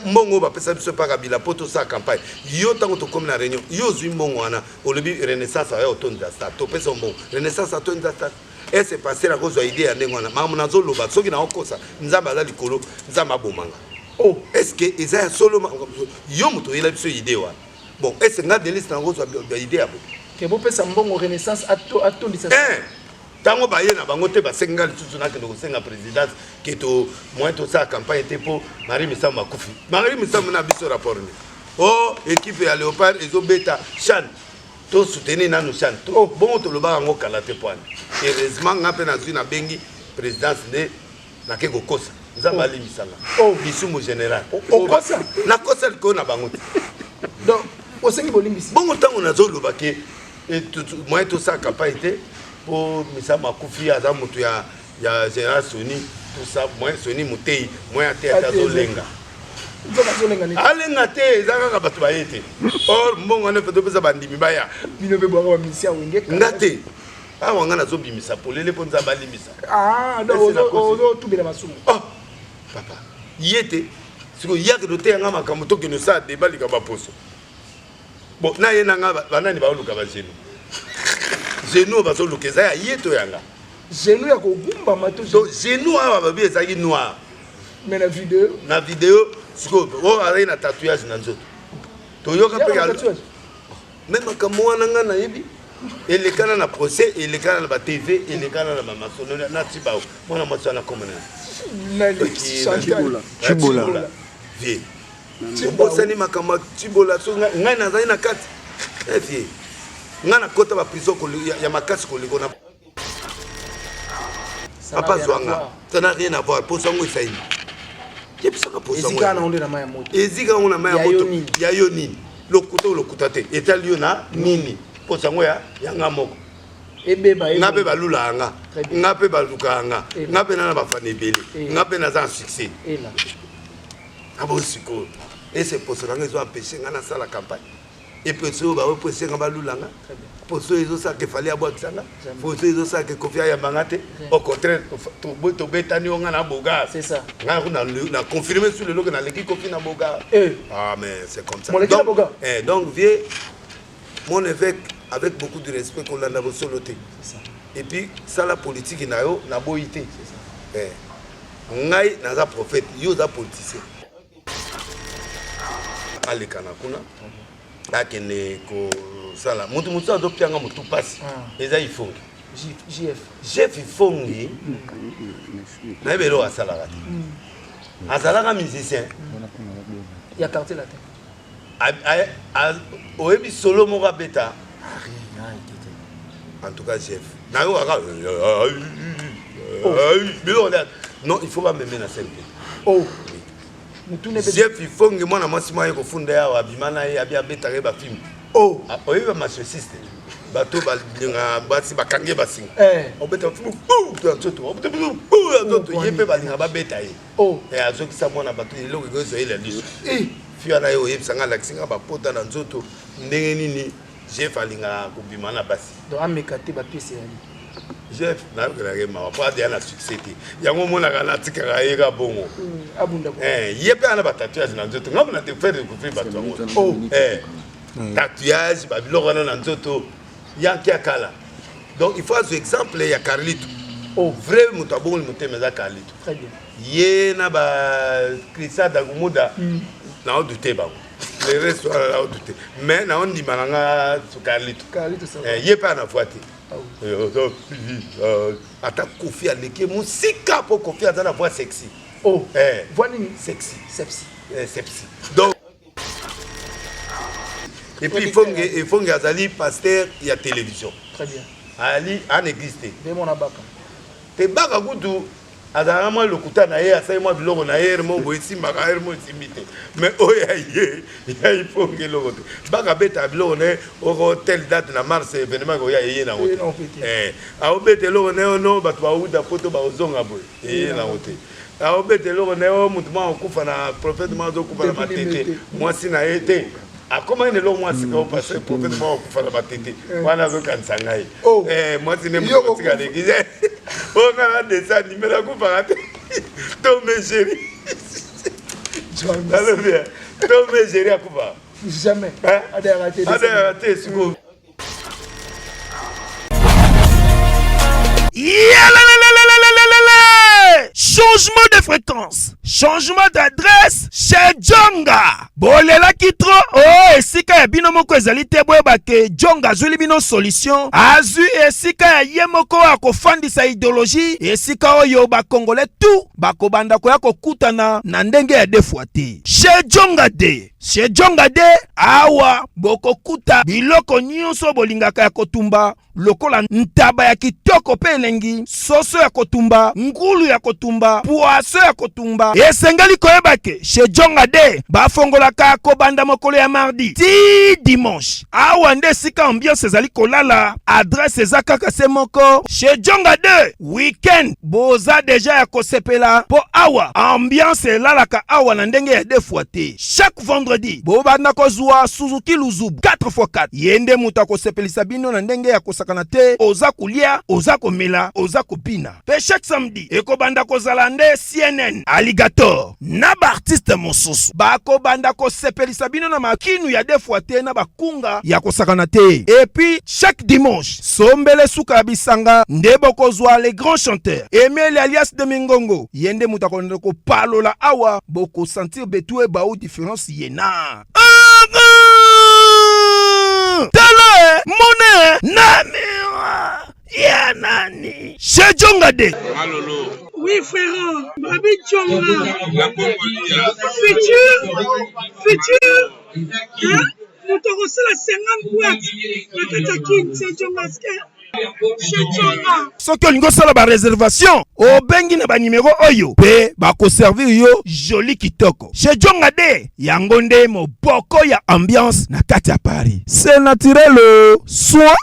mbongo oyo bapesa biso epa kabila mpo tosala campagne yo ntango tokomi na réunion yo ozwi mbongo wana olobi renaissance aya otondisa stade topesa mbongo renaissance atondisa stade ese paster akozwa ide ya ndenge wana makambo nazoloba soki naokosa nzambe aza likolo nzambe abomanga o oh, eske eza ya solo yo moto oyela biso ide wana bon ese nga delise nakozwa ide ya bo te bopesa mbongo renaissance atondisa eh! ntango baye na bango te basengi ngai lisusu nakende kosenga présidence ke to moyen tosala campagne te mpo marie misambo akufi marie misambo na biso rapport nini o oh, ekipe ya léopard ezobeta chane tosoutenir nanu chane oh, bongo tolobaka yango kala te mpo wana heureusement ngai mpe nazwi nabengi présidence nde nake kokosa nzambe oh. alimbisa nga oh. lisumu général okosa nakosa likoyo na bango te donc osengi bolimbisi bongo ntango nazoloba ke eh, moyen tosala campagne te mpo misa makufi aza moto ya ya général soni tosa moyen soni moteyi moyen ateya azolenga alenga te eza kaka bato baye te or mbongo wana mpe topesa bandimi baya nga te awa nga nazobimisa polele mpo nzambe alimbisa ah, ozotubela masumu ah, papa ye te sikoyo yake toteya nga makambo tokende osala deba likambo ya poso bon na ye na nga banani baoluka bagenu genu oyo bazoluka eza ya ye to yanga genu ya kogumbama to genu awa babi ezalaki noir mais na video na video sikoyo oyo oh, azalaki na tatouage na nzoto toyoka mpe me makambo wana ngai nayebi elekana na procès elekana na batv elekana na bamasonola na tibao mwana mwasi wana komona cibola vie obosani makambo ya cibola so ngai nazali na kati eh, vie ngai nakota baprison ya makasi kolekona papa zwanga ça n'a rien à voir posa yango esaini yebisaka posaezika yango na mai ya moto ya yo nini lokuta lokuta te etali yo na nini posa yango ya yanga moko nga mpe balula yanga nga mpe baluka yanga nga mpe nana bafana ebele nga mpe naza na succès abo sikoyo ese poso nanga ezo empeshe nga nasala campagne eposo oyo baoyo mpo esenga balula nga poso oyo ezosaka efali abwakisa nga poso oyo ezosaka ekofi ayamba nga te au contraire tobetani yo nga na boga nga na confirme su lelo ke naleki kofi na boga eh. ah mais c'est comme ça donc, eh, donc vieux mon évêque avec beaucoup de respect kolanda bosolo te et puis sala politiki na yo naboyi te eh. ngai naza prophète yo oza politicien aleka na kuna akende kosala moto mosusu azopianga motu mpasi ah. eza ifongi jef ifongi nayebi eloko asalaka te hmm. azalaka musicien ya quartier latin oyebi solo moko abeta en tout cas chef nayo kaka biloko nde non il faut bameme na sene te oh. chef ifonge mwana mwasi mwa ye kofunda yawa abima na ye abi abetaka ye bafilme oh. ah, oyebi bamasiosiste bato balinga basi bakange basinga eh. obeta ye mpe balinga babeta ye Oh, eh, azokisa mwana bato eloko ekoki ezwa ye na liso eh, fiwa na ye oyebisa ngai alakisi ngai bapota na nzoto ndenge nini jef alingaka kobima na basi donc ameka te bapesi ya ye jef nayokelaka ye mawa mpo adeya na succès te yango omonaka natikaka ye ka bongo hmm, eh, ye mpe ana batatuage na nzoto ngambo na te faire découvrir bato yango oh, tatouage babiloko wana na nzoto yanke ya kala donc il faut azwa exemple ya carlito oh. vrai moto abongoli motema eza carlito ye na ba christian dagumuda mm. naodute bango le reste wana naodute mais naondima na nga carlito eh, ye mpe ana voi te ata kofi aleki mosika mpo kofi aza na voi sexy oh. eh. voi nini sexy sepsi eh, sepsi donc et puis efonge efonge azali pasteur ya télévision très bien ali en église te nde mona baka te baka kutu azalaka mwa lokuta na ye asali mwa biloko na ye mo boye esimbaka ye mo esimbi te mais oyo ya ye ya ifonge eloko te baka betaka biloko na ye oko telle date na mars événement ekoya eye nango te eh, aobeta eloko na ye ono bato bauta poto bakozonga boye eye nango te Azo beta eloko naye oyo mutu moko akufa na prophète moko azo kufa na matete mwasi na ye te akomaki na eloko mwa sika o parce que prophète moko akufa na matete wana azo kanisa ngai eh mwasi ne mutu tika leki oyo ngai na dessin anime nakufaka te to me chéri nalobi to me chéri akufa jamais adayaka te sikoyo Changement de fréquence, changement d'adresse chez Djonga. bolelaki tro o oh, esika ya bino moko ezali te boyeba ke jong azwili bino solution azwi esika ya ye moko ya kofandisa ideologie esika oyo bakongole tu bakobanda koya kokutana na ndenge ya defwa te chez jonga de Sejonga de awa bokokuta biloko nyonso bolingaka ya kotumba lokola ntaba ya kitoko mpe elengi, soso ya kotumba, ngulu ya kotumba, pwaso ya kotumba. Esengeli koyeba ke Sejonga de bafongolaka kobanda mokolo ya mardi ti dimanche. Awa nde esika ambiance ezali kolala, adresse eza kaka se moko Sejonga de. weekend boza deja ya kosepela mpo awa ambiance elalaka awa na ndenge ya defua te chaque vendredi bobanda kozwa suzuki luzubu 4x4 ye nde moto akosepelisa bino na ndenge ya kosakana te oza kolia oza komela oza kobina mpe chaque samedi ekobanda kozala nde cnn alligator na baartiste mosusu bakobanda kosepelisa bino na makinu ya defwa te na bakunga ya kosakana te epuis chaque dimanche sombele suka ya bisanga nde bokozwa le grand chanteur emeli alias de mingongo ye nde moto akolanda kopalola awa bokosentir betue bau difference yena tala eh, mona eh, na mira ya nani sejonga de Oui, frère, Babi Tchonga, futur, futur, hein? moto akosala 50 boite na kati ya kin sejongaske soki olingi osala bareservation obengi na banimero oyo mpe bakoservir yo joli kitoko shejonga de yango nde moboko ya ambiance na kati ya paris se naturel soin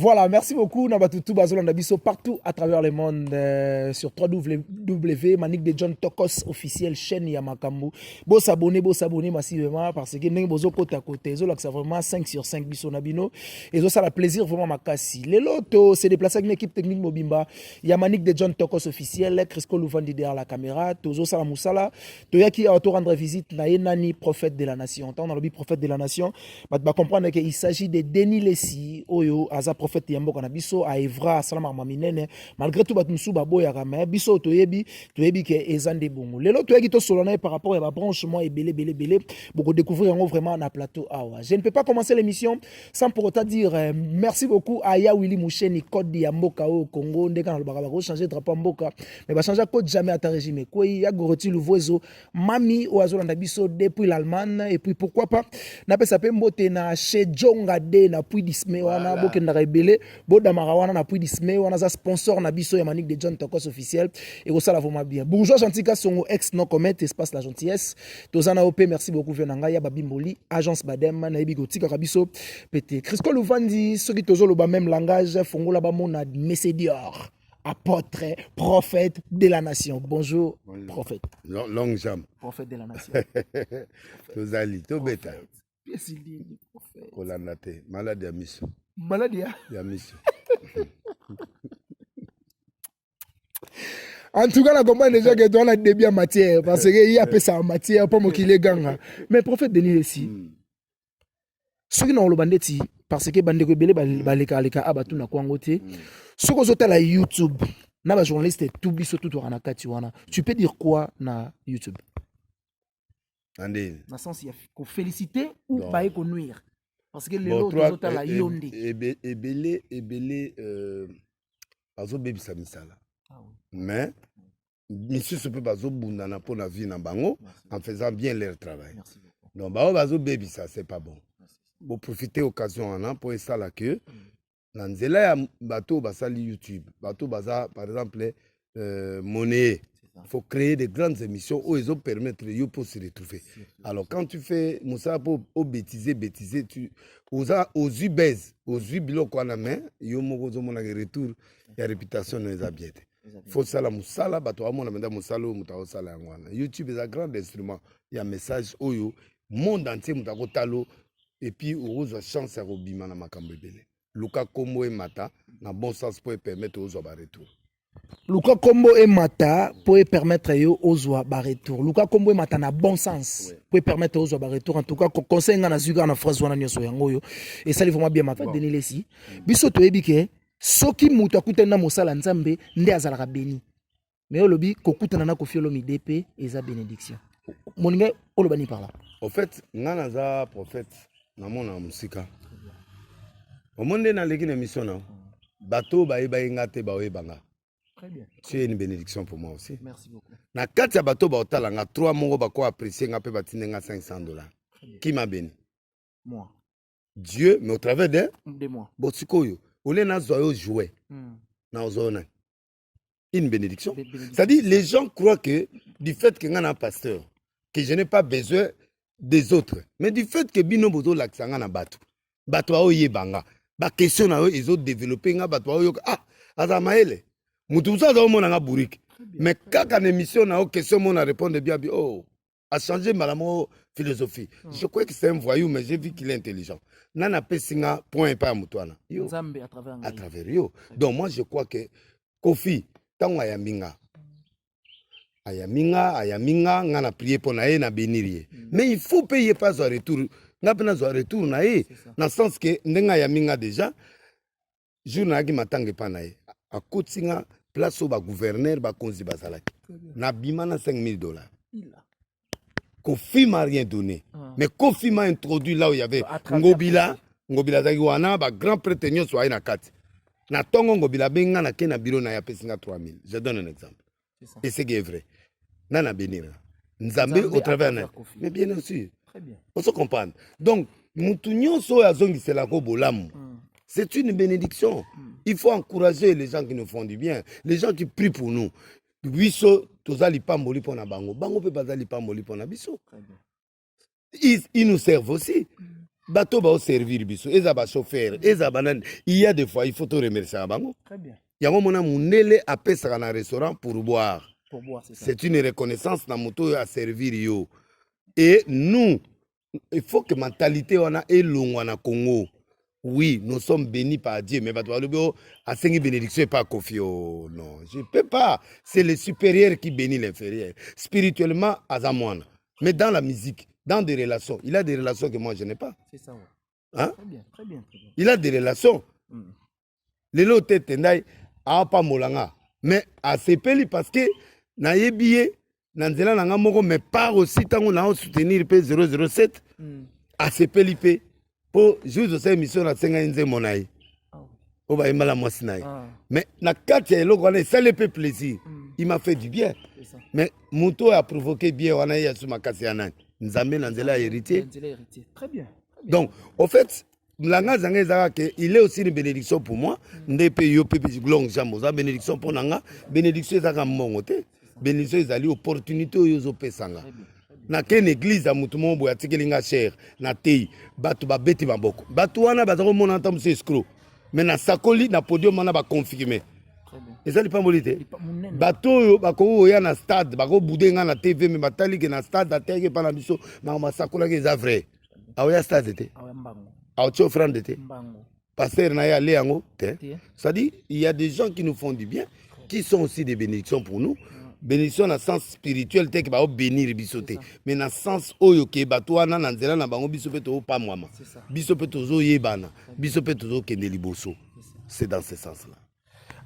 Voilà, merci beaucoup Nabatutu Bazolanda Bisso partout à travers le monde euh, sur www Manik de John Tokos officiel chaîne ya Makambu. Bo s'abonner, bo s'abonner massivement parce que ndenge bozo kota kota ezo lakisa vraiment 5 sur 5 biso na bino. Ezo sala plaisir vraiment makasi. Le loto se déplacer avec une équipe technique mobimba ya Manik de John Tokos officiel, Crisco Louvandi derrière la caméra, tozo sala musala. toyaki awa to rendre visite na ye nani prophète de la nation ntango nalobi prophète de la nation bato bacomprendre ke il s'agit de denis lesi oyo aza prophète ya mboka na biso aevra asalamaka ma minene malgré tout bato mosusu baboyaka me biso toyebi toyebi ke eza nde bongo lelo toyaki tosolola na ye par rapport ya babranche mwa ebele ebele ebele bokodécouvrir yango vraiment na plateau awa je ne peux pas commencer l'émission sans pour autant dire euh, merci beaucoup à ya Willy Moucheni code ya mboka au Congo ndeka na lobaka bako changer drapeau ya mboka mais ba changer code jamais ata régime koi ya Goroti Luvuezo mami oyo azolanda biso depuis l'Allemagne et puis pourquoi pas na pesa pe mbote na chez Jonga de na puis disme wana bokendaka ebele bodamaka wana na puits disme wana aza sponsor na biso ya manique de john tokos officiel ekosala vraiment bien bourgeois gentil kasongo ex non commet espace la gentillesse toza na yo mpe merci beaucoup vio na ngai ya babimboli agence badem nayebi kotikaka biso pete crisco luvandi soki tozoloba même langage fongola bamona messe dior apôtre, prophète de la nation. Bonjour, prophète. Long, long jam. Prophète de la nation. Tozali, tobeta. pesi nini kolanda te maladi ya miso maladi ya ya miso en tout cas na comprendre déjà que toi na début ya matière parce que ye apesaka matière mpo mokili eganga mais prophète denis esi hmm. soki na oloba ndeti parce que bandeko ebele hmm. balekaleka a ah, batu na kwango te hmm. soki ozotala youtube na bajournaliste tu biso tutwaka na kati wana tu peux dire quoi na youtube na sens ya kofélicite ou baye konuire parce que lelo tozotala eh, eh, yo nde ebele ebele euh, bazobebisa misala ah mais misusu mpe bazobundana mpo na vie na bango en faisant bien leur travail donc baoyo bazobebisa c'est pas bon boprofite occasion wana mpo esala que mm. na nzela ya bato oyo basali youtube bato baza par exemple euh, monnaie il faut créer de grandes émissions oyo ezo permettre yo mpo se retrouver alors quand tu fais mosala mpo obétise bétise tu oza ozwi base ozwi biloko wana mais yo moko ozomonaka retour ya réputation no eza bien te faut sala mosala bato bamona mpenza mosala oyo moto akosala yango wana youtube eza grand instrument ya message oyo monde entier moto akotalo epuis okozwa chance ya kobima na makambo ebele luka kombo emata na bon sens mpo epermettre ozwa baretour luka kombo emata mpo epermettre yo ozwa baretour luka kombo emata na bon sens mpo epermettre ozwa baretour en tout cas conseil ngai nazwi kaka na phrase wana nyonso yango oyo esali vraimen bien mapa bon. denilesi biso toyebi ke soki moto akutani na mosala nzambe nde azalaka beni mais olobi kokutana na kofi olomide mpe eza bénédiction molinga oloba nini par là au fait ngai naza prophète namona mosika omoni nde naleki na émission na bato oyo bayebaki ngai te baoyeba ngai tu es une bénédiction pour moi aussi na kati ya bato baotala ngai trois moko bako apprécie ngai mpe batindi ngai 500 dollars qui m'a béni moi dieu mais au travers de, de moi bon sikoyo olie nazwa yo joue hmm. nazwa yo nani une bénédiction. C'est-à-dire, les gens croient que du fait que un pasteur, que je n'ai pas besoin des autres, mais du fait que bino bozo laksanga na batu, batu ao yebanga, ba question na yo ils ont développé nga batu ao yoka, ah, aza maele, mutu musa aza omona nga bourrique, mais kaka na émission na yo question mona répondre bien, oh, a changer mbala moko philosophie mm. je crois que c'est un voyou mais j'ai vu qu'il est intelligent nani apesi nga point epai ya moto wana yo à travers yo donc moi je crois que kofi ntango ayambi nga ayambi nga ayambi nga nga na prie mpo na ye na benir ye mm. mais il faut mpe ye mpe azwa retour nga mpe nazwa retour na ye na sens ke ndenge ayambi nga déjà jour nayaki matanga epa na ye akotisi nga place oyo bagouverneur bakonzi bazalaki nabima na 5000 dollars kofi m'a rien donné ah. mais kofi m'a introduit là où il y avait ngobila ngobila azalaki wana bagrand prêtre nyonso aye na kati na ntongo ngobila abengi nga na ke na biro na ye apesi nga 3000 je donne un exemple et c'est que vrai na na bénir nzambe au travers na mais bien sûr ozo comprendre donc mutu nyonso oyo azongiselako bolamu mm. c'est une bénédiction mm. il faut encourager les gens qui nous font du bien les gens qui prient pour nous biso toza lipamboli mpo na bango bango mpe baza lipamboli mpo na biso ils, ils nous servent aussi bato baoservir biso eza bachauffeur eza banani il y a des fois il faut toremerciaka bango yango mona mundele apesaka na restaurant pour boire c'est une reconnaissance na moto oyo aservir yo et nous il faut que mentalité wana elongwa na congo oui nous sommes bénis par dieu mais bato balobi o oh, asengi bénédiction epa kofi o oh, non je peux pas c'est le supérieur qui bénit l'inférieur spirituellement aza mwana mais dans la musique dans des relations il a des relations que moi je n'ai pas c'est ça ouais. hein? très bien, très bien, très bien. il a des relations mm. lelo te tendai apambola nga mais asepeli parce que nayebi ye na nzela na nga moko mais par aussi ntango na osoutenir mpe 007 mm. asepeli mpe mpo jour osa émission nasengaki nzembo na ye ah oyo bayemba na mwasi na ye ah. mais na kati ya eloko wana esali mpe plaisir mm. il m'a fait du bien mais moto oyo aprovoke bien wana ye asu makasi ya nani nzambe na nzela ya héritier donc au fait langa zanga ezalaka ke il est aussi une bénédiction pour moi nde mpe yo mpe long jambe oza bénédiction mpo na nga bénédiction ezalaka mbongo te bénédiction ezali opportunité oyo ozopesa nga nake na église ya motu moko boye atikeli nga chere na tei bato babeti maboko bato wana baza komona ata mosu escro me nasakoli na podium wana baconfirme eza lipamboli te bato oyo bakoki koya na stade bakobude nga na tv me batali ke na stade ateyaki epa na biso makambo asakolaki eza vrai aoya stade te aotia offrande te pasteur na ye ale yango te c'est-à-dire il y a des gens qui nous font du bien qui sont aussi des bénédictions pour nous bénédiction na sens spirituel te ke baobénir biso te mais na sens oyo ke bato wana na nzela na bango biso mpe tozopamwama biso mpe tozoyebana biso mpe tozokende liboso c'est dans ce sens là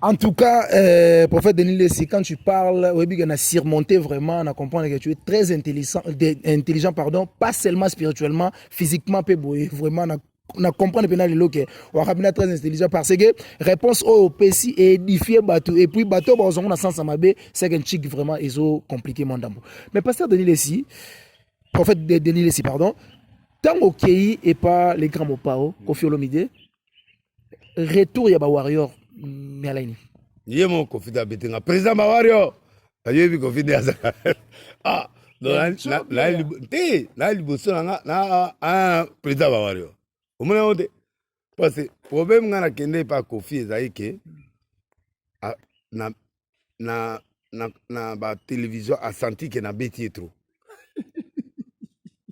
En tout cas, euh, prophète Denis Lessi, quand tu parles, on a surmonté vraiment, on a compris que tu es très intelligent, intelligent pardon, pas seulement spirituellement, physiquement, vraiment, on a na comprendre mpe na lelo ke wakabina très intelligent parce que réponse oyo opesi édifie bato et puis bato bakozango na sens ya mabe seke nchik vraiment ezo compliqué mwa ndambo mais pasteur denis lesi prophète de, denis lesi pardon ntango okei epa le grand mopao kofi olomide retour ya ba warrior miala ini ye mo kofi da betenga président ba warrior ayebi kofi de azaka ah te na liboso na nga na ah, président ba warrior omona yango te parce que problème ngai nakende epa kofi ezali ke ah, na na, na, na ba télévision asanti ke nabeti ye trop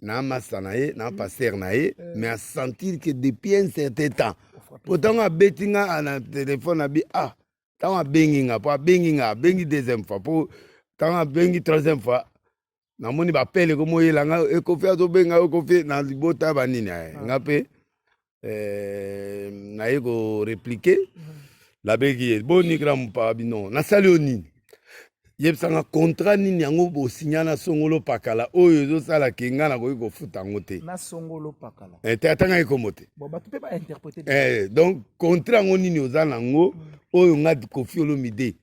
na masta na ye na paster na ye eh. mais asentir ke depuis un certain temps po ntango abeti nga na telefone na bi ah ntango abengi nga po abengi nga abengi deuxième fois po ntango abengi troisième fois namoni bapele komoyela nga ekofi azobenga yo kofi na libota ya banini aye ah. nga mpe eh, naye koreplike mm. nabeki ye boni gramu pa bino nasali yo nini yebisanga contrat nini yango bosinya na songolo pakala oyo ezosala ke ngai nakoki kofuta yango te na songolo pakala eh, te atanga ekombo te bon, bato mpe bainterprete eh, donc contrat yango nini oza na yango mm. oyo ngai kofi olomide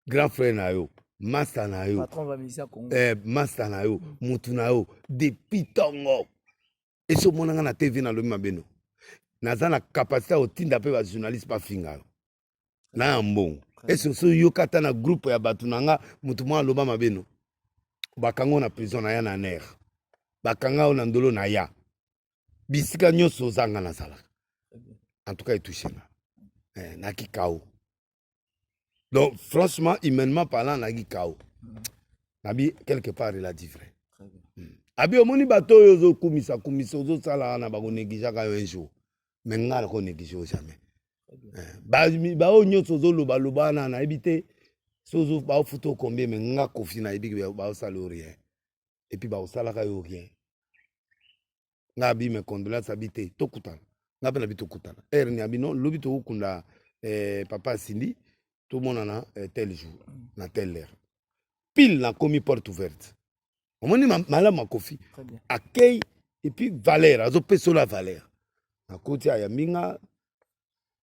grand frère na yo masta na yo eh, masta na yo mutu mm. na yo depuis ntongo esi omonanga na tv nalobi mabe no naza na kapasité ya kotinda mpe bajournaliste bafinga yo na ya mbongo esi osi oyoka ata na groupe ya bato na nga motu mwa aloba mabe no bakanga na prison na ya na ner bakanga yo na ndolo na ya bisika nyonso ozanga nazalaka en tout cas etouche nga eh, nakikao donc franchement humainement parlant nayaki kao nabi quelque part il a dit vrai hmm. abi omoni bato oyo ozokumisa kumisa ozosala wana bakoneglijaka yo un jour me nga nakoneglige yo jamais eh, baoyo nyonso ozolobaloba wana nayebi te sozo baofuta okombie me nga kofi nayebi baosala yo rien epuis baosalaka yo rien nga abi me condoleance abi te tokutana nga mpe na bi tokutana heure ni abi non lobi tokokunda eh, papa asindi tomonana eh, tel jour na tel heure pile nakomi porte ouverte omoni ma- malamu ya kofi Très bien. accueil epuis valeur azopesa ola valeur nakoti ayambi nga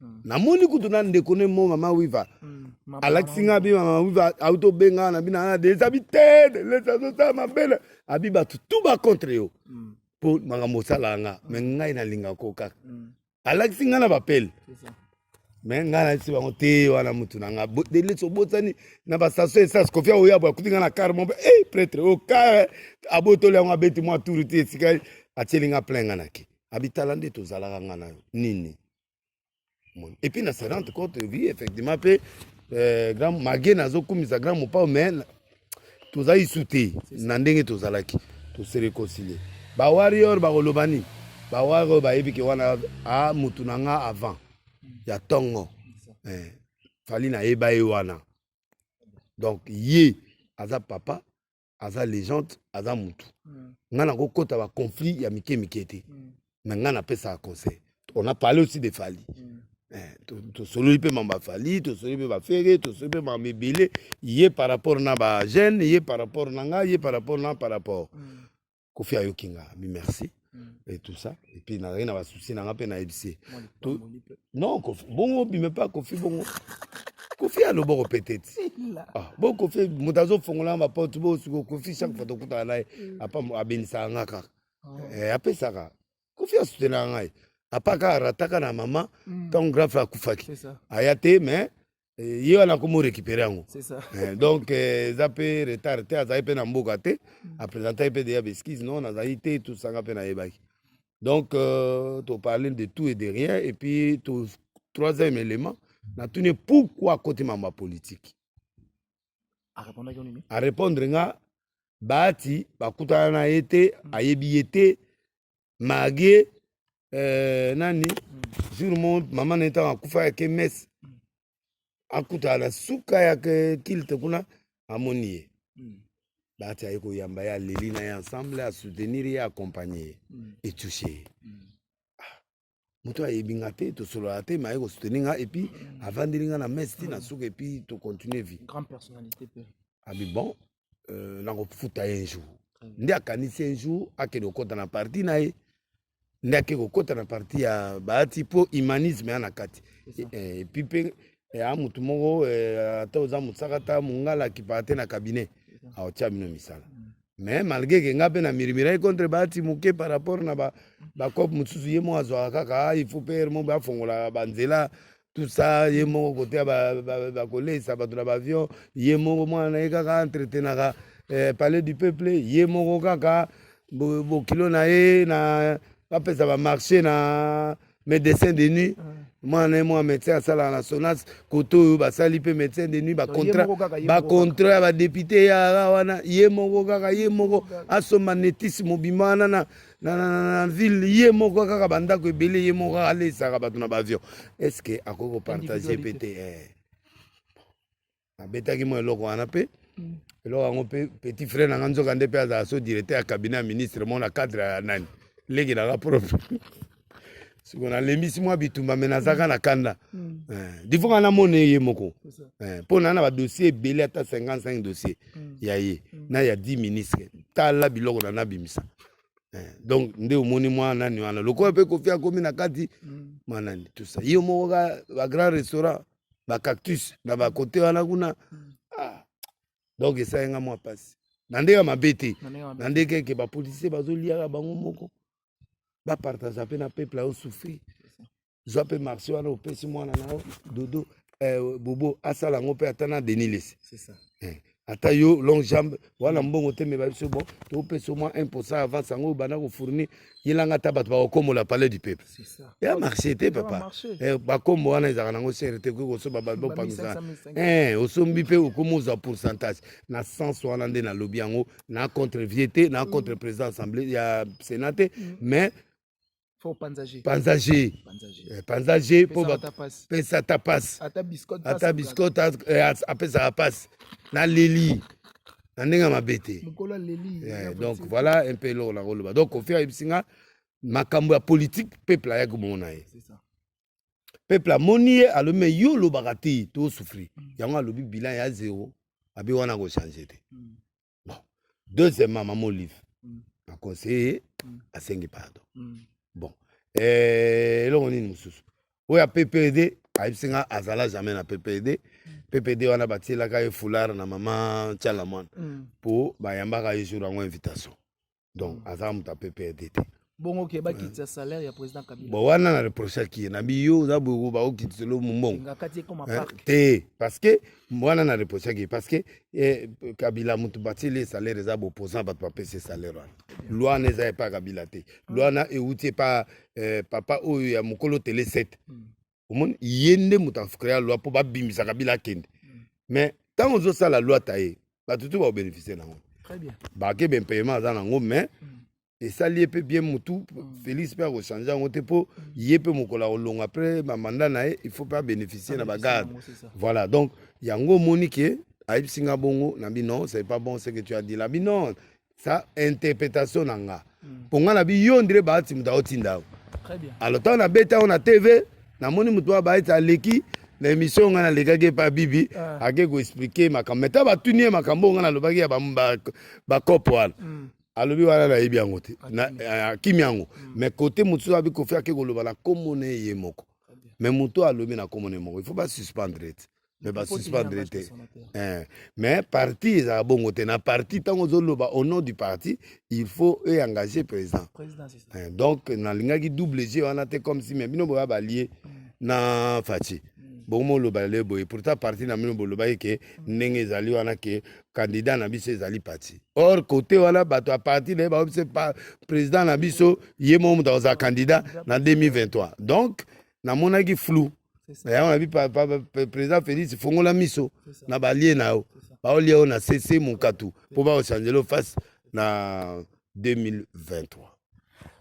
Hmm. namoni kutu na ndeko ne mo mama wiva hmm. alakisi nga bi mama wiva auti obenga na bina na deza bitede lesa azosala mabele abi bato tu bacontre yo mpo hmm. makambo osalaka nga me ngai nalinga ko kaka alakisi nga na bapele me ngai nayebisi bango te wana motu na nga delesi obotani na bastation esas kofia oyabo akuti nga na kare mope e eh, pretre o kare abotoli yango abeti mwa turu te esika atieli nga plein nga nake abitala nde tozalaka nga na yo nini et puis na se rendre compte oui effectivement mpe euh, grand mage nazokumisa grand mopao mais tozali su te na ndenge tozalaki tose reconcilie bawarior bakoloba nini bawari oyo bayebi ke wana a motu na nga avant ya ntongo eh, fali nayeba ye wana donc ye aza papa aza legende aza mutu mm. ngai nakokota baconflit ya mike mike te mm. me ngai napesaka conseil on a parlé aussi de fali mm. eh, tosololi mpe mamba fali tosololi mpe bafere tosololi mpe mamba ebele ye par rapport na bagene ye par rapport na ngai ye par rapport na par rapport mm. kofi ayoki nga abi merci mm. et tout ça et puis nazalaki na basusi na nga mpe nayebisi ye non kofi bongo obime mpe kofi bongo kofi aloba kopete ti ah, bo kofi moto azofongola baporte bosuko kofi chaque fois tokutana na ye mm. apa abenisaka nga kaka oh. eh, apesaka kofi asutenaka ngai apa kaka rataka na mama ntango mm. grafe akufaki aya te mais Eh, ye wana akomi orécupere yango eh, donc eh, eza mpe retard te azali mpe na mboka te mm. apresentaki mpe deya baeskise non nazali te tosanga mpe nayebaki donc euh, toparle de tout et de rien et puis to, troisième élément natuni pourquoi akoti mambo ya politike arépondre nga baati bakutana na ye te mm. ayebi ye te marie euh, nani jour mo mama na ye ntango akufa yake mese akutana na suka ya kilte kuna amoni ye bati aye koyamba ye aleli na ye ensemble asoutenir ye accompagne ye etouche ye moto ayebi nga te tosolola te maye kosuteni nga epuis avandeli nga na mesi ti na suka epuis tocontinue vie abi ah, bon euh, nakofuta ye un jour nde akanisi un jour akende kokɔta na parti na ye nde ake kokɔta na parti ya baati mpo humanisme ya na kati epuis mpe eh, eh, ya motu moko eh, ata oza mosaka ata mongala akipaka te na cabinet aotya bino misala mm. mais malgré ke nga mpe na mirimiraki contre baati moke par rapport na bacope mosusu ye moko azwaka kaka ah, il faut pere moko afongolaka banzela tout ça ye moko koteya bakoleisa bato na baavion ye moko mwana na ye kaka entretenaka eh, palais du peuple ye moko kaka bokilo na ye na bapesa bamarché na médecin de nuit ah. mwana na ye mwa médecin asalaka na sonas kote oyo basali mpe médecin de nuit bacontra bacontra ya badepute yaya wana ye moko kaka ye moko asomba netisi mobima wana na na ville ye moko kaka bandako ebele ye moko kaka aleisaka bato na baavion est ce que akoki kopartage mpe te eh. nabetaki mwa eloko wana mpe mm. eloko yango mpe petit frère na nga nzoka nde mpe azala so directeur ya cabinet ya ministre mona cadre ya nani leki na nga propre siko nalembisi mwa bitumba me nazaka na kanda mm. eh, difonga namona ye moko eh, mpo na na badossier ebele ata 55 dossier mm. ya ye mm. na ya 10 ministre tala biloko na nabimisa eh, donc nde omoni mwa nani wana lokola mpe kofi akomi na kati mwa nani tusa ye moko ka bagrand restaurant ba cactus na ba kote wana kuna mm. ah. donc esali nga mwa mpasi na ndenge ya mabe te na ndenge eke bapolisie bazoliaka bango moko bapartaza mpe na peuple ayo souffrir zwa mpe marché wana opesi mwana na yo dodo eh, bobo asala yango mpe ata na denis lesi eh. ata yo long jambe wana mm. mbongo te me babiso bon topesa mwa 1 pourcent avance yango banda kofournir yelanga ata bato bakokombola palais du peuple ya marché te papa eh, bakombo wana ezalaka nango sere te koki kosoba bato bopangisa eh, osombi mpe okomi ozwa pourcentage na sens wana nde nalobi yango na contre vie te na contre mm. président assemblée ya sénat te mm. mais panza je panza je eh, mpo bapesa ta pasi ata biskote eh, apesaka pasi na leli na ndenge ya mabe te eh, donc voilà un peu eloko nakoloba donc kofi ayebisi nga makambo ya politike peuple ayaki komona ye peuple amoni ye alobi me yo olobaka te tosufri mm. yango alobi bilan ya zero abi wana kochange te mm. bon deuxièmement mama olive mm. na conseiller mm. asengi pardon mm. bon eh, eloko nini mosusu oyo ya ppd ayebisi nga azala jamais na ppd ppd wana batielaka ye foulard na mama tiala mwana mpo mm. bayambaka ye jour yango invitation donc mm. azala moto ya pprd te bongo oke bakitisa salaire ya président kabila bon wana na reprochaki ye nabi yo oza boye bakokitisa lo mombongo te parce que wana na reprochaki ye parce que eh, kabila moto batieli ye salaire eza baopposant bato bapesi ye salaire wana loi wana eza epa kabila te loi wana euti epa eh, papa oyo ya mokolo tele 7 mm. omoni ye nde moto acrea loi mpo babimisa kabila akende mm. mais ntango ozosala loi ta ye bato tu baobénéficie nango bake bempayement aza nango mais mm. esali ye mpe bien motu mm. félix mpe akochange yango te mpo ye mpe mokolo akolonga après bamanda na ye il faut mpe abénéficie na bagarde voilà donc yango omoni ke ayebisi nga bongo na bino c'est pas bon ce que tu as dit la bino sa interpretation na nga hmm. mpo nga na bi yo ndire baati moto aotinda yo alors ntango nabeta yango na tv namoni moto wa baeti aleki na émission nga nalekaki epa bibi ah. ake koexplike makambo meta batuni ye makambo oyo nga nalobaki ya bakope wana hmm. alobi wana nayebi yango te akimi yango hmm. mais kote mosusu abi kofi ake koloba na nkombo na ye moko mais moto alobi na nkombo na ye moko il faut basuspendre ete mais basuspendre te eh. mais parti ezala bongo te na parti ntango ozoloba au nom du parti il faut eengage président eh, donc nalingaki double g wana te comme si mais bino boya balie mm. na faci mm. bongo oloba lelo boye pourtant parti na bino bolobaki ke mm. ndenge ezali wana ke candidat na biso ezali parti or kote wana bato ya parti na ye bakobi se président na biso ye moko moto akozala candidat na 2023 donc namonaki flou na yango nabi président félix fongola miso na balie na yo baolia yo na sese monkatu mpo bakochangele yo face na 2023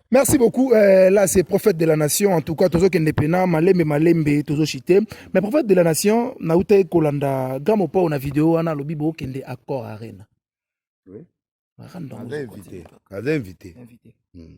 Merci beaucoup. Euh, là, c'est prophète de la nation. En tout cas, tozo kende pena, malembe, malembe, tozo chité. Mais prophète de la nation, na uta e kolanda, gamo pa na vidéo, ana lobi bo kende accord arena. Oui. Aza invité. Aza invité. Invité. Hmm.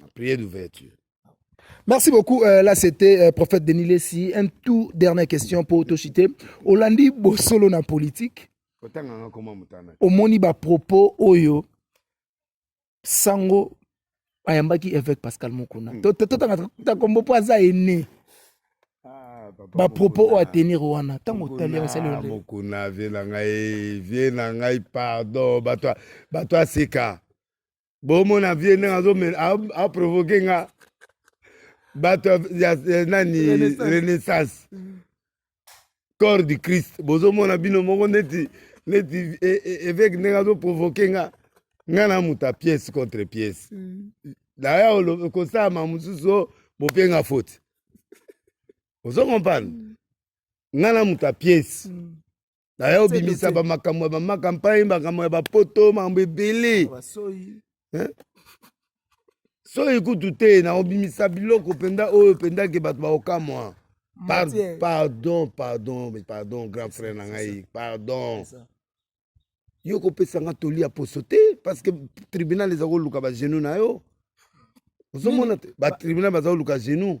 na prière d'ouverture Merci beaucoup. Euh, là, c'était euh, prophète Denis Lessi. Un tout dernière question pour Toshite. Olandi Bossolo na politique. omoni bapropos oyo sango ayambaki évêque pascal mokuna hmm. totangata kombo mpo aza ene ah, bapropos oyo atenir wana ntango otali asalmokuna ah, vie na ngai vie na ngai pardon bato aseka bomona vie ndenge azomela aprovoke nga bato ya nani renaissance mm. corps du christ bozomona bino moko neti neti e, e, eveke ndenge azoprovoke nga nga na moto ya pièce contre pièce mm. daya kosalama mosusu oh, bopenga faute ozo comprendre mm. nga na moto ya pièce naye obimisa bamakambo ya bamaka mpai makambo ya bapoto makambo ebele soyi kutu te na obimisa biloko mpenza oyo mpenza ke bato baokamwa pardon pardon pardon pardon grand frère na ngai pardon yo kopesa nga toli ya poso te parce que tribunal eza koluka bagenou na yo ozomona te batribunal baza koluka genou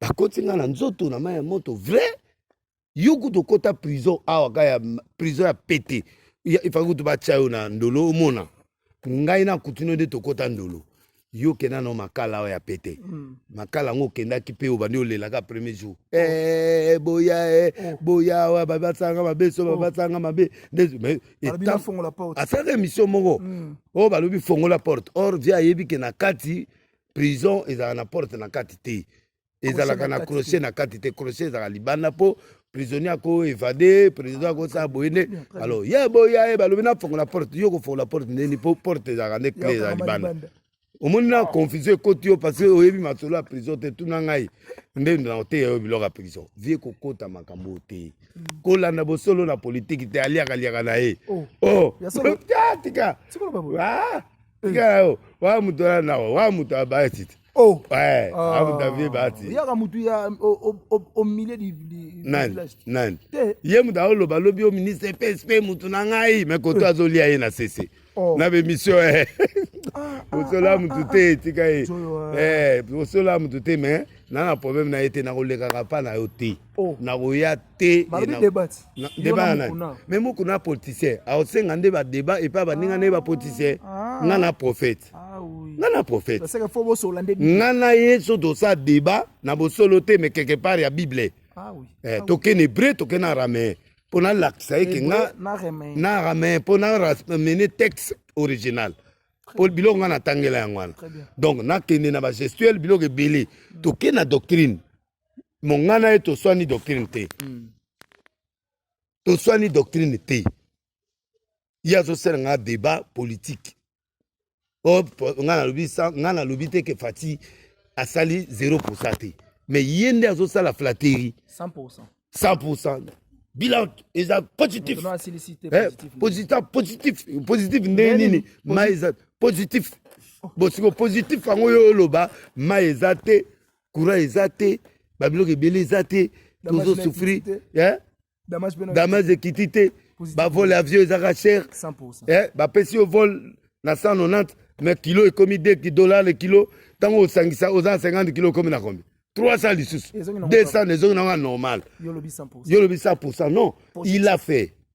bakoti nga na nzoto na mai ya moto vrai yo kutu okota prison awa ka ya prison ya pete ifaki kutu batya yo na ndolo omona ngai na kutino nde tokota ndolo yo okenda na makala oyo ya pete mm. makala yango okendaki mpe obandi olelaka premier jour oh. eh, eh, boya eh, oh. boya awa babasanga mabe so oh. babasanga mabe asalaka emission moko mm. oyo balobi fongola porte or vie ayebi ke na kati prison ezalaka na porte na kati te ezalaka na crochet na kati te crochet ezalaka libanda mpo prisonnier ako evade président akosala boye nde alors ye boya ye balobi nafongola porte yo kofongola porte ndeni mpo porte ezalaka nde cle eza libanda omoni na confusion ekoti yo parce que oyebi masolo ya prison te tuna ngai nde na oteya yo biloko ya prison vie kokota makambo oyo te mm. kolanda bosolo na politiki te aliaka liaka na ye o oh. oh. tika ah! tikala yo wa moto ala nawa wa moto abayasi te Oh. Ouais, ah. abu davi bati. Yaka mutu ya au, au, au, au milieu du, du nani, village. Nani? Te. Ye mutu aoloba lobi yo ministre PSP mutu na ngai mais koto eh. azolia ye na sese. Oh. Na bemission eh. Osola ah, ah, mutu ah, te etika ye. Eh, osola mutu te mais na na problème na ye te nakolekaka pa na yo te. oh. nakoya te me moko na politicien akosenga nde badeba epai baninga nde bapoliticien ah. nga na prophète ah, nga na prophète nga na ye so tosala deba na bosolo te me quelque part ya bible ah eh, tokende hebreu tokende araméen mpo nalakisa ye ke nga na araméen mpo namene texte original mpo biloko nga natangela yango wana donc nakende na bagestuel biloko ebele tokende na doctrine mongana ye toswani doctrine te mm. toswani doctrine te ye azosala nga débat politique oh, nga nalobi nga nalobi te ke fati asali 0 pourcent te mais ye nde azosala flatterie 100 pourcent 100 pourcent bilan eza positif eh, positif positif positif ndenge nini ma eza positif bosiko positif yango yo oloba ma eza te courant eza te babiloko ebele eza te tozo souffrir damage ekiti te bavole avion ezaka cher eh, bapesi yo vole na 190 mais kilo ekomi 2 dollar le kilo ntango osangisa oza 50 kilo okomi na kombi 300 lisusu 200 ezongi nango ya normal yo lobi 100 pourcent non il a fait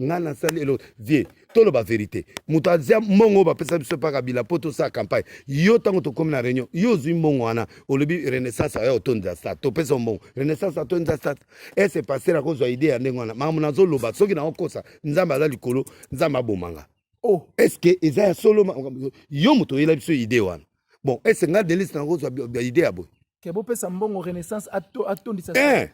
nga nasali eloko vie toloba verité moto azia mbongo oyo bapesa biso epa kabila mpo tosala campagne yo ntango tokomi na réunion yo ozwi mbongo wana olobi renaissance aya otondisa stade topesa mbongo renaissance atondisa stade ese paster akozwa idée ya ndenge wana makambo nazoloba soki naokosa nzambe aza likolo nzambe abomanga oh. eske eza ya solo yo moto oyela biso idée wana bon ese nga delise nakozwa idée ya boye ke bopesa mbongo renaissance atondisa eh!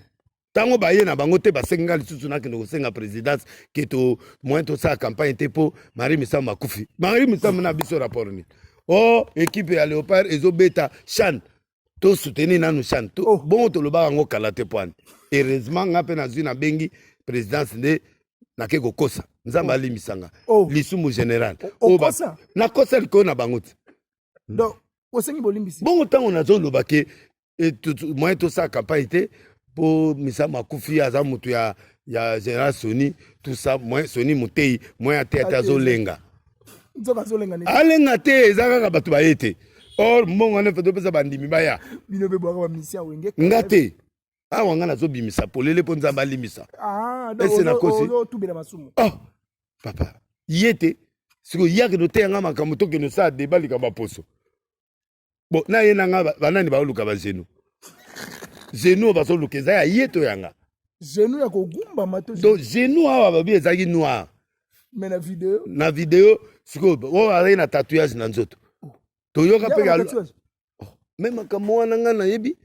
ntango baye na bango te basengi ngai lisusu nakende kosenga présidence ke to moyen tosala campagne te mpo marie misambo akufi marie misambo na biso rapport nini o oh, ekipe ya léopard ezobeta chane tosoutenir nanu chane to, oh. bongo tolobaka yango kala te mpo ani heureusement ngai mpe nazwi nabengi présidence nde nake kokosa nzambe oh. alimbisanga oh. lisumu général oh, oh, nakosa likoyo na bango te osengi bolimbisi bongo ntango nazoloba ke moyen tosala campagne te mpo misa makufi aza moto ya, ya général soni tout ça moyen soni moteyi moyen ateya te azolenga alenga te eza kaka bato baye te or mbongo wana efe topesa bandimi baya nga te awa nga nazobimisa polele mpo nzambe alimbisa ah, ese nakosi oh, oh, papa ye te sikoyo yake noteya nga makambo tokende osala deba likambo ya poso Bon, na ye nanga banani baoluka ba zenu. Zenu bazoluka eza ya ye to yanga. Zenu ya kogumbama to. Donc zenu awa babi ezaki noir. Mais na video. Na video sikoyo oyo azali na tatouage na nzoto. Oh. Toyoka mpe ya oh, me makambo wana ngai nayebi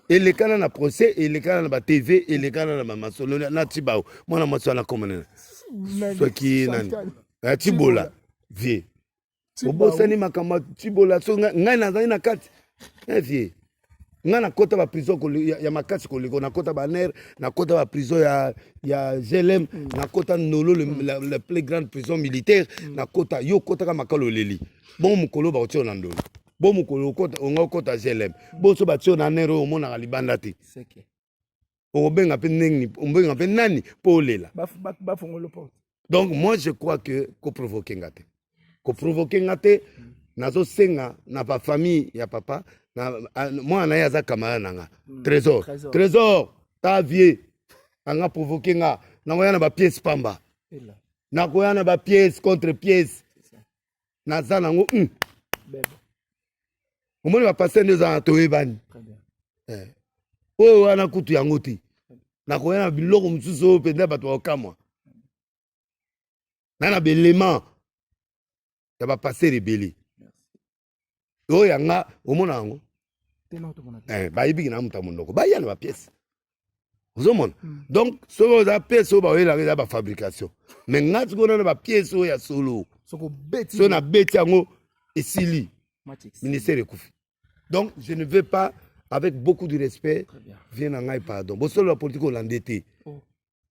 elekana na procès elekana na ba tv elekana na bamasolo na tibao mwana mwasi wana akomanana soki nani atibola vie obosani makambo ya cibola so ngai nazali na kati vie eh, ngai nakota baprison ya, ya makasi koleko nakota baner nakota baprison ya, ya glm mm. nakota nolo le, mm. la, la plus grande prison militaire mm. nakota yo okotaka makalo oleli bongo mokolo bakotiyo na ndolo bo mokolo onga okota glm bonso batiyo na ner oyo omonaka libanda te okobenga mpe ndenge obenga mpe nani mpo olela bafongolo porte donc moi je crois que koprovoke nga te koprovoke nga te nazosenga na bafamille ya papa na mwana na ye aza kamara na nga hmm. trésor trésor ta vieux anga provoke nga nakoya na bapiece pamba nakoya na bapiece contre piece naza nango hmm. omoni bapaster nde eza na toyebani eh. oyo wana kutu yango te nakoya na biloko mosusu oyo mpenza bato bakokamwa na na belema ya bapaster ebele oyo ya nga omona yango eh, bayebiki na moto ya monoko baya na bapiese ozomona hmm. donc soki oza piese oyo baoyelaka eza bafabrication mai nga soki ona na bapiese oyo ya solo soki nabeti yango esili ministère ekufi donc je ne veux pas avec beaucoup de respect vie na ngai pardon bosolo ya politike olande te oh.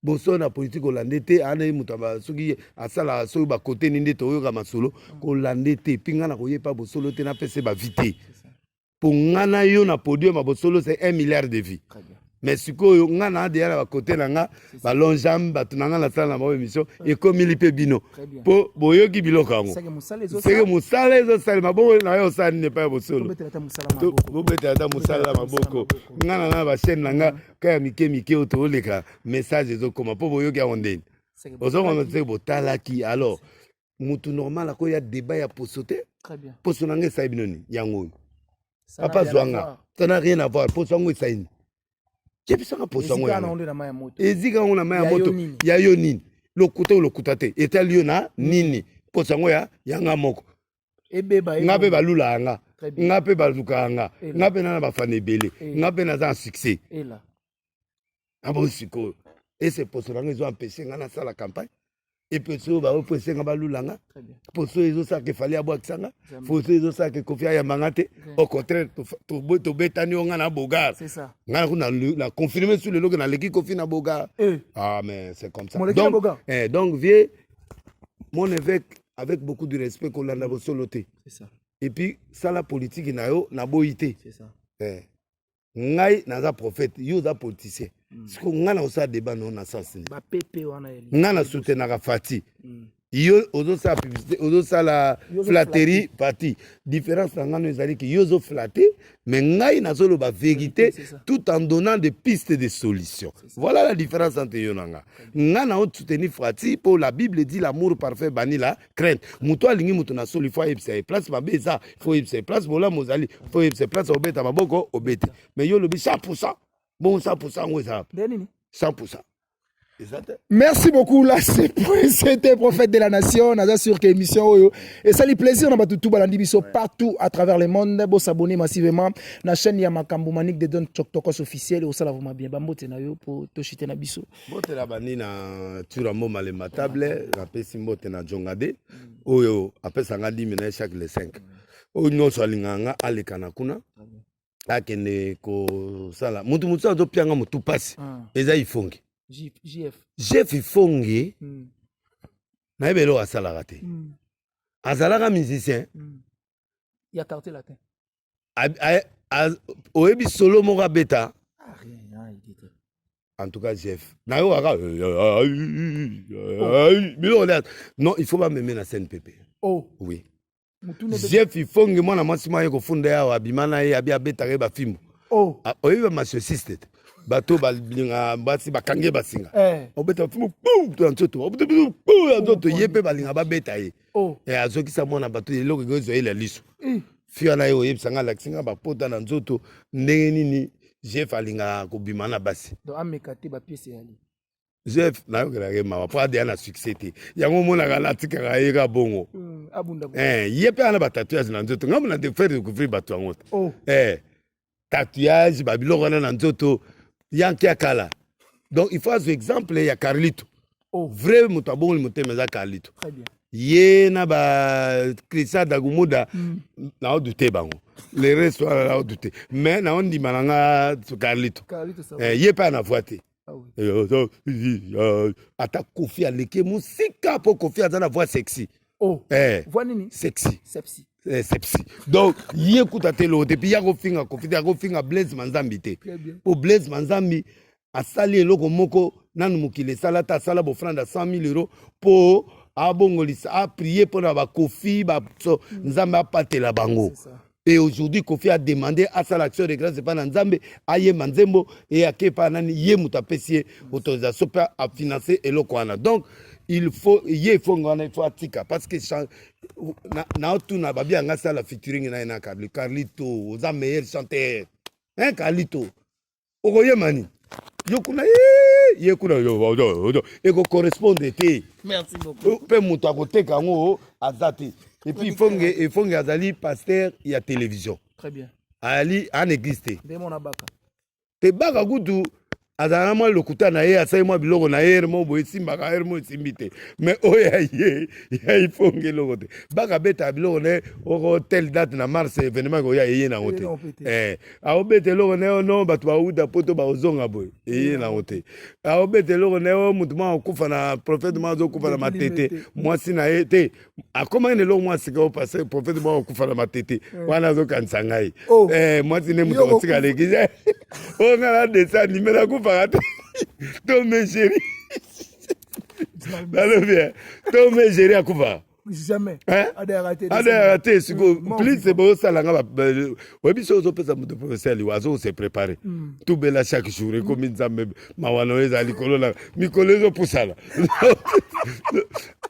boso na politike kolande te ana ye moto soki asalaka soki bakote nini nde toyoka masolo mm. kolande te mpi ngai nakoye mpa bosolo te napesa ye bavi te mpo ngai na yo na podium ya bosolo se 1 milliard de vie mais sikoyo ngai na deya na bakote na ngai balonjame bato na ngai nasala na bango émission ekomili mpe bino mpo boyoki biloko yango seke mosala ezosalema bongo na yo osala nini epai ya bosolo bobetela ata mosala ya maboko ngai na ngai na bachaine na ngai ka ya mike mike oyo tooleka message ezokoma mpo boyoki yango ndeni ozokoma te botalaki alors mutu normal akoya debat ya poso te poso na ngai esali bino nini yango oyo papa zwanga ça n'a rien à voir poso yango esali nini yebisaka poso yango ezika yango na mai ya moto ya yo nini lokuta oyo lokuta te etali yo na nini poso yango ya yanga moko ebeba nga mpe balula yanga nga mpe baluka yanga nga mpe nana bafana ebele nga mpe naza na succès na bo sikoyo ese poso nanga ezo ampeshe nga nasala campagne eposo oyo baoyo poso nga balula nga poso oyo ezosala ke fali abwakisa nga poso oyo ezosala ke kofi ayamba nga te au contraire tobetani yo nga na bogar nga na confirme sur leloke naleki kofi na bogar eh. ah mais c'est comme ça donc, eh, donc vieux mon évêque avec beaucoup de respect kolanda mm. bosolo te et puis sala politiki na yo naboyi te eh. ngai naza prophète yo oza politicien mm. siko ngai nakosala débat nao na sens nini ngai na soutenaka fati mm. yo ozosala publicité ozosala flatterie parti différence na ngano ezali ke yo ozoflatte mais ngai nazoloba verité tout en donnant des pistes de solution voilà la différence entre yo na nga ngai nao soutenir frati mpo la bible dit l'amour parfait bani la crainte moto alingi moto na solo ifo ayebisa ye place mabe eza ifo oyebisa ye place bolamu ozali ifo oyebisa ye place obeta maboko obeti mais yo olobi 100 pourcent bongo 100 pourcent yango eza 100 pourcent Merci beaucoup là c'était prophète de la nation naza sur que émission oyo et ça les plaisir na batu tout balandi biso partout à travers le monde bo s'abonner massivement na chaîne ya makambo manik de don tokos officiel au sala vraiment bien bambote na yo po to chiter na biso bote la bandi na turamo malema table na pesi mbote na jongade oyo apesa nga 10 minutes chaque le 5 oyo nyonso alinganga alekana kuna akende kosala mutu mosusu azopianga motu mpasi ah. eza ifonge jef ifonge hmm. nayebi eloko asalaka te hmm. azalaka musicien hmm. ya quartier latin oyebi solo moko abeta en tout cas jef nayokaka biloko non il faut bameme na scène pepe oh. oui jeff ifonge mwana mwasi mwa ye kofunda ye awa abima na ye abi abetaka ye bafimbo oh. ah, oyebi bamasocisite te bato balinga basi bakange basinga eh. obeta bafimbo to ya nzoto obeta bafimbo ya nzoto ye mpe balinga babeta ye oh. eh, azokisa mwana bato eloko eko ezwa ye la liso eh. fi wana ye oyebisa ngai alakisi ngai bapota na nzoto ndenge nini jeff alingaka kobima na basi ameka te bapiese ya jeff nayokelaka ye mawa mpo adeya na succès te yango omonaka natikaka ye ka bongo hmm, eh, ye mpe ana batatouage na nzoto ngambo na defaire découvrir bato yango te oh. eh, tatouage babiloko wana na nzoto yanke ya kala donc il faut azwa exemple ya carlito oh. vrai moto abongoli motema eza carlito ye na ba christian dagumuda mm. nao dute bango le reste wana nao dute mais nao ndima na nga carlito eh, ye mpe ana voix te ata kofi aleki mosika mpo kofi aza na voix sexy oh. eh. voix nini sexy sepsi eh, sepsi donc ye kuta te eloko te mpi ya kofinga kofi te akofinga blaise manzambi te mpo blaise manzambi asali eloko moko nanu mokili esala ata asala bofrande ya 100 000 euro mpo abongolisa aprie mpo na bakofi ba, so, nzambe apatela bango et aujourd'hui kofi a demandé asala action de grâce epai na nzambe ayemba nzembo e ake epai nani ye moto apesi ye autorisation mpe afinance eloko wana donc il faut ye efongo wana il faut atika parce que naotuna babi yanga asala featuring na ye na carli carlito oza meilleur chanteur hein carlito okoyema nini yo kuna ye kuna ekokorrespondre te mpe moto akoteka yango aza te epuis ifonge azali paster ya télévision ali an église te te baka kutu azala na mwa lokuta na ye asali mwa biloko na ye hermo boye esimbaka hermo esimbi te mais oyo ya ye ya ifonge eloko te baka betaka biloko na ye oko tel date na mars evenement ekoya eye nango te aobeta eloko na yo no bato bauta poto baozonga boye eye nango te aobeta eloko na yo motu mwa akufa na profete mwa azokufa na matete mwasi na ye te akomaki na eloko mwa sika o pase profete mwa akufa na matete wana azokanisa ngai oh. eh, mwasi nde moto akotika leki oyo ngai na desi anime nakufaka te to me sheri nalobi to me sheri akufaka jamais hein? adayaka te adayaka te sikoyo mm, plise bosala nga oyebi soki ozopesa moto professeur aliwa azokose prépare mm. tubela chaque jour ekomi nzambe mawa na yo eza likolo na mikolo ezopusana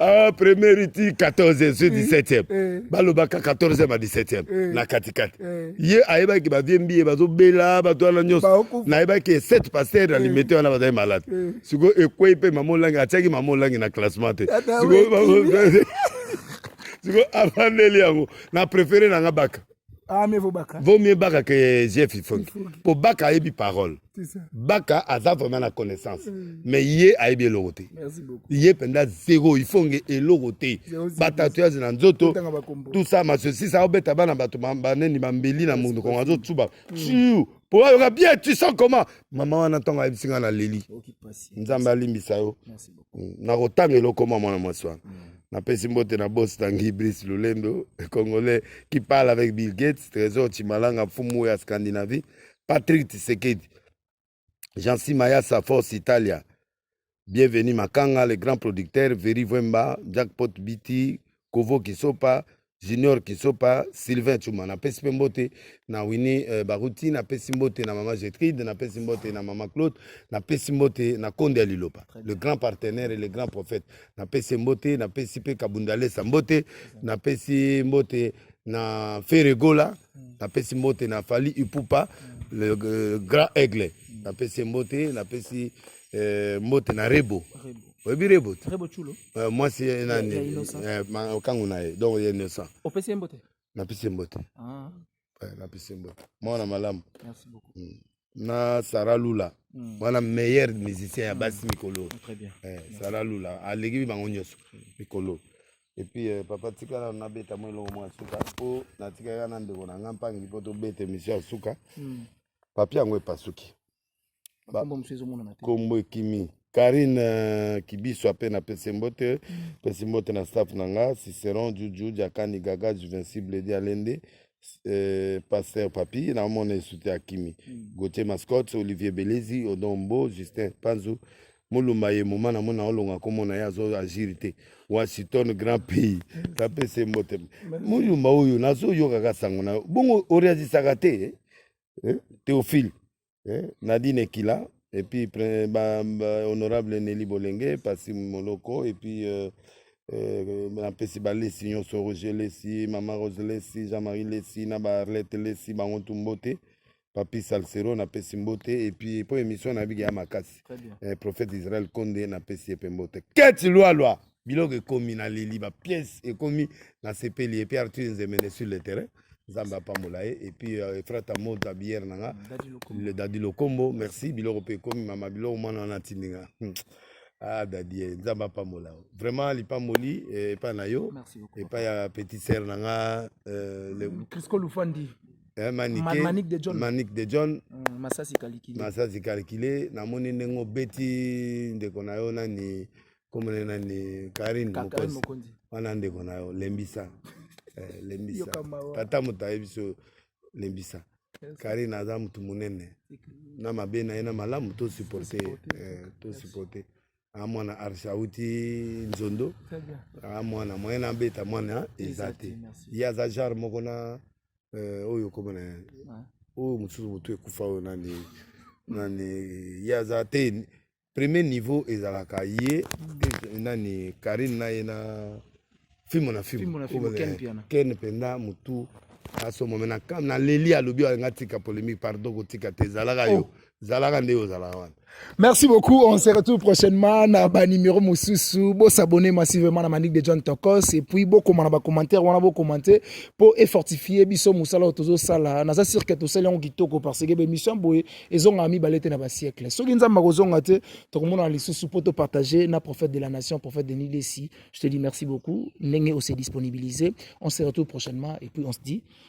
ah, première iti 14 sur 17e eh. balobaka 14e a 17e eh. na katikati eh. ye ayebaki bavie mbiye bazobela bato wana nyonso nayebaki 7 paster na limete wana bazali malade sikoyo ekwei mpe mama olangi atiaki mama olangi na classement te sikoyo afandeli yango na prefere na nga baka Ah, mais baka. Vaut mieux Baka que Jeff Ifongi. Pour Baka a eu parole. Baka a vraiment la connaissance. Mm. Mais hier a eu bien l'oroté. Merci beaucoup. Hier pendant zéro Ifongi et l'oroté. Batatouage dans Zoto. Tout ça, ma ceci, ça a obéta bana bato bambane ni bambeli na mundo kongazo tsuba. Chiu. po ayoka bien tu sens comment mama wana ntango ayebisi ngai naleli nzambe alimbisa yo mm, nakotanga eloko mwa mwana mwasi wana mm. napesi mbote na bos tangi brice lulendo congolais qui parle avec bill gates trésor chimalanga mfumu ya scandinavie patrick tisekedi jansi mayasa force italia Bienvenue Makanga, le grand producteur, Veri Vemba, Jackpot BT, Kovo Kisopa, Junior Kisopa, Sylvain Chuma. Na pesi pe mbote na Winnie euh, Baruti, na pesi mbote na Mama Getride, na pesi mbote na Mama Claude, na pesi mbote na Konde ya Lilopa, le grand partenaire et le grand prophète. Na pesi mbote, na pesi pe Kabundalesa mbote, na pesi mbote na Ferregola, na pesi mbote na Fali Ipupa, le euh, grand aigle. Na pesi mbote, na pesi eh, mbote na rebo oyebi rebo te eh, mwasi ye nani eh, okangu na ye donc ye innocent opesi ye mbote napesi ye mbote ah. napesi ye mbote mwana malamu hmm. na sara lula hmm. wana meilleur musicien ya basi hmm. mikolo sara lula aleki bango nyonso mikolo epuis euh, papa tikala nabeta mwa elongo mwa suka mpo natikaka na ndeko na nga mpangi mpo tobeta emission ya suka papie yango epasuki bakombo mosusu ezomonana te kombo ekimi karine euh, kibiso ape na pese mbote mm. pesi mbote na staff na nga ciceron juju jakani gaga juvencible di alende Euh, pasteur papi na omona esute akimi mm. gautier mascotte olivier belezi odombo justin panzu molumba ye moma na mona olonga komona ye azo agir te washington grand pays apesa ye mbote molumba oyo nazoyokaka sango na yo bongo oreagisaka te eh? eh, Théophile eh, Nadine Ekila et puis ba, ba, honorable Nelly Bolenge Pasi Moloko et puis euh, euh, napesi balesi nyonso roger lesi mama rose lesi jean marie lesi na baarlete lesi bango tu mbote papi salsero napesi mbote epuis mpo émission na biki ya makasi eh, prophète israel konde napesi ye mpe mbote keti lwalwa biloko ekomi na leli ba pièce ekomi na sepeli epuis arthur nzemene sur le terrain nzambe apambola ye epuis euh, efrata moza biere na nga le dadi lokombo merci biloko mpe ekomi mama biloko mwana wana atindi nga hmm. ah dadie eh, nzambe apambola yo vraiment lipamboli eh, epai na yo epai ya petit sere na nga euh, crisco lufandi Eh, manik de john, Manik de john. Mm, masasi calculé masasi calculé namoni ndenge obeti ndeko na yo nani komona nani karine mokonzi wana ndeko na yo lembisa eh, lembisa tata moto ayebi so lembisa karine aza motu monene na mabe na ye na malamu tosuporte eh, tosuporte a mwana arsa auti nzondo a mwana moyen na abeta mwana eza te ye aza genre moko na eh, oyo komona oyo mosusu motu ekufa oyo nani nani ye aza te premier niveau ezalaka ye mm. nani karine na ye na fimo na fimo ken mpenza motu asombo me na leli alobi alinga tika polémique pardon kotika te ezalaka yo oh. zalaka nde ozalaka wana merci beaucoup on se retrouve prochainement na banimero mosusu bosabone massivement na manique de john tokos et puis bokoma na bacommentaire wana bocommente mpo efortifie biso mosala oyo tozosala naza sur ke tosali yango kitoko parce que bémission boye ezongaka mibale te na basiekle soki nzambe akozonga te tokomonana lisusu mpo topartage na prophète de la nation prophète de nilesi je te dis merci beaucoup ndenge ose disponibilise on se retrouve prochainement et puis on se dit